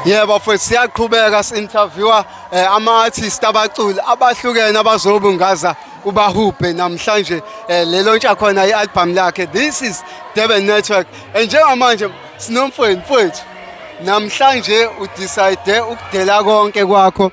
Yebo mfowethu siyaqhubeka si-interviewer eh, ama-artist abaculi abahlukene abazobungaza ubahubhe namhlanje eh, lelo ntsha khona i-albhamu lakhe this is Durban Network and njengamanje sinomfweni mfowethu namhlanje udecide ukudela konke kwakho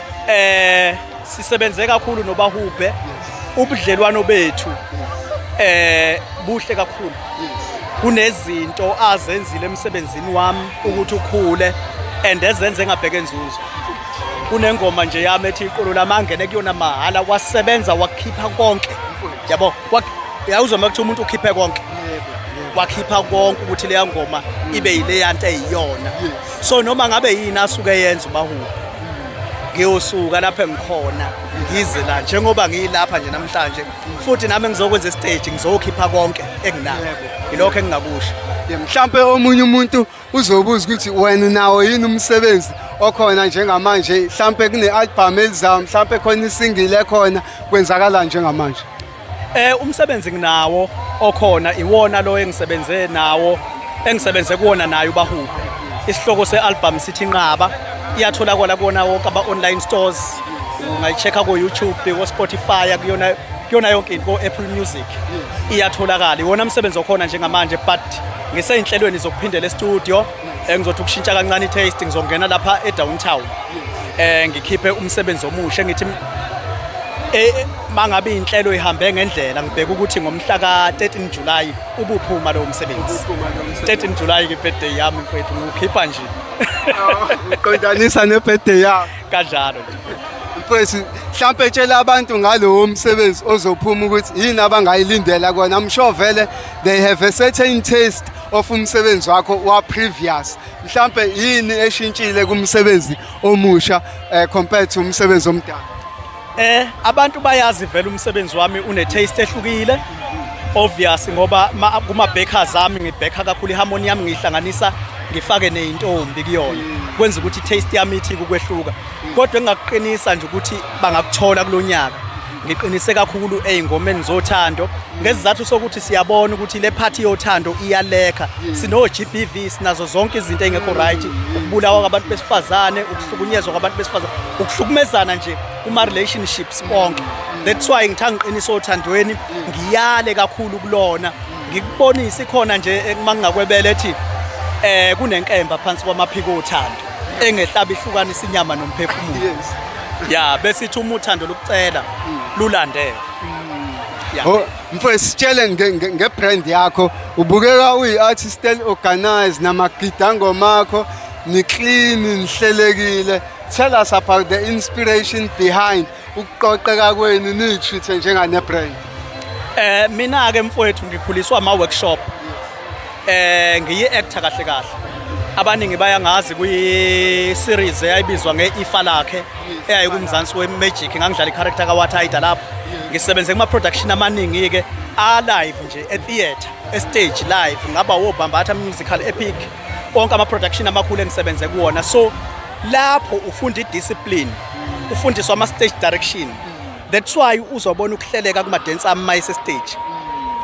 eh sisebenze kakhulu nobahubhe ubudlelwano bethu eh buhle kakhulu kunezinto azenzile emsebenzini wami ukuthi ukhule and ezenze ngabheke inzuzo kunengoma nje yami ethi iqolo lamangene kuyona mahala wasebenza wakhipha konke yabo yawuzwa makuthiwa umuntu ukhiphe konke wakhipha konke ukuthi leya ngoma ibe yileyanto eyiyona so noma ngabe yini asuke yenza umahubo ngiyosuka lapha engikhona ngize la njengoba ngiyilapha nje namhlanje futhi nami ngizokwenza istage ngizokhipha konke enginako yilokho engingakusho mhlawumbe omunye umuntu uzobuza ukuthi wena nawo yini umsebenzi okhona njengamanje mhlawumbe kune-albhamu elizayo mhlawumbe khona isingile ekhona kwenzakala njengamanje Eh umsebenzi nginawo okhona iwona lo engisebenze nawo engisebenze kuwona naye ubahubi. Isihloko sealbum sithi inqaba iyatholakala kuwona wonke aba online stores. Ungayichecka ku YouTube, ku Spotify kuyona kuyona yonke into ku Apple Music. Iyatholakala. Iwona umsebenzi okhona njengamanje but ngiseyinhlelweni zokuphindela e-studio. engizothi ukushintsha kancane i-taste ngizongena lapha e-downtown eh ngikhiphe umsebenzi omusha ngithi eh mangabe inhlelo ihambe ngendlela ngibheka ukuthi ngomhla ka-13 July ubuphuma lo msebenzi 13 July ke birthday yami mfethu ngikhipha nje uqondanisa ne-birthday yami kanjalo mfethu mhlampe tshela abantu ngalowo msebenzi ozophuma ukuthi yini abangayilindela kona msho vele they have a certain taste of umsebenzi wakho wa previous mhlambe yini eshintshile kumsebenzi omusha eh, compared to umsebenzi omdala eh abantu bayazi vele umsebenzi wami une taste ehlukile obvious ngoba kuma bakers ami ngibheka kakhulu iharmony yami ngihlanganisa ngifake nezintombi kuyona kwenza ukuthi taste yami ithi kukwehluka kodwa engakuqinisa nje ukuthi bangakuthola kulonyaka ngiqinise kakhulu ey'ngomeni zothando ngesizathu sokuthi siyabona ukuthi le phathi yothando iyalekha sino-g b v sinazo zonke izinto ey'ngekho right ukubulawa kwabantu besifazane ukuhlukunyezwa kwabantu besifazane ukuhlukumezana nje kuma-relationships onke that's why ngitha ngiqinise othandweni ngiyale kakhulu kulona ngikubonise ikhona nje uma ngingakwebele ethi um kunenkemba phansi kwamaphiko othando engehlaba ihlukanisa inyama nomphefumulo yes ya bese ithi uma uthando lokucela lulandele Ya. Oh, mfo sitshele nge- nge- ngebrand yakho ubukeka uyi-artist organized namagida ngomakho niclean nihlelekile tell us about the inspiration behind ukuqoqeka kwenu niyithithe njenganebrand eh mina ke mfowethu ngikhuliswa ama workshop eh ngiyi actor kahle kahle abaningi bayangazi kwi series eyayibizwa nge ifa lakhe eyayi kumzansi we magic ngangidlala i character ka Wathaida lapho ngisebenze kuma production amaningi ke a live nje e theater e stage live ngaba wo bambatha musical epic onke ama production amakhulu engisebenze kuwona so lapho ufunda idiscipline ufundiswa ama-stage direction that's why uzobona ukuhleleka kumadensi ami uma esestage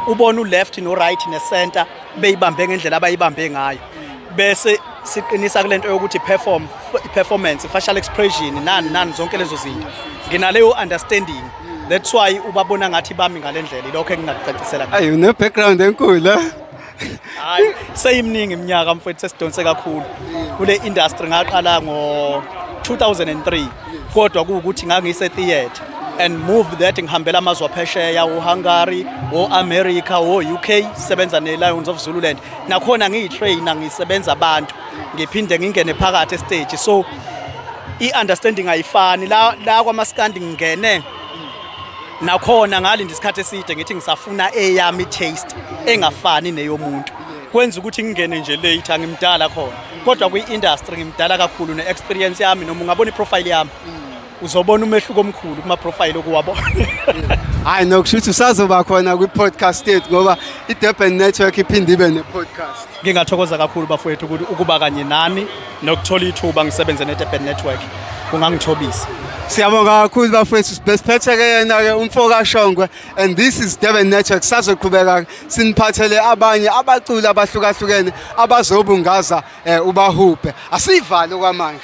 ubona u-left no-right ne-center beyibambe ngendlela abayibambe ngayo bese siqinisa kule nto yokuthi perform performance facial expression nani nani zonke lezo zinto nginaleyo understanding that's why ubabona ngathi bami ngale ndlela ilokho engingakucacisela ayi une-background enkulu hayi seyimningi iminyaka mfowethu sesidonse kakhulu kule industry ngaqala ngo 2003 kodwa kuwukuthi ngangise theatre and move that ngihambela amazwe aphesheya o-hungary o-america o-uk sebenza ne-lions of zululand nakhona ngiyi-trainer ngisebenza abantu ngiphinde ngingene phakathi esiteji so i-understanding ayifani la, la kwamaskandi ngingene nakhona ngalinda isikhathi eside ngithi ngisafuna eyami taste engafani neyomuntu kwenza ukuthi ngingene nje late angimdala khona kodwa kwi-industry ngimdala kakhulu ne-experience yami noma ungabona iprofile yami uzobona umehluko omkhulu kuma-profile okuwabona hayi nokusho ukuthi usazoba khona kwi-podcast yethu ngoba i-durban network iphinde ibe ne-podcast Ngingathokoza kakhulu bafowethu ukuthi ukuba kanye nani nokuthola ithuba ngisebenze neDurban Network kungangithobisa. Siyabonga kakhulu bafowethu besiphethe-ke yena-ke umfokashongwe and this is Durban Network sazoqhubeka-ke siniphathele abanye abaculi abahlukahlukene abazobungaza um ubahubhe asiyivale okwamanje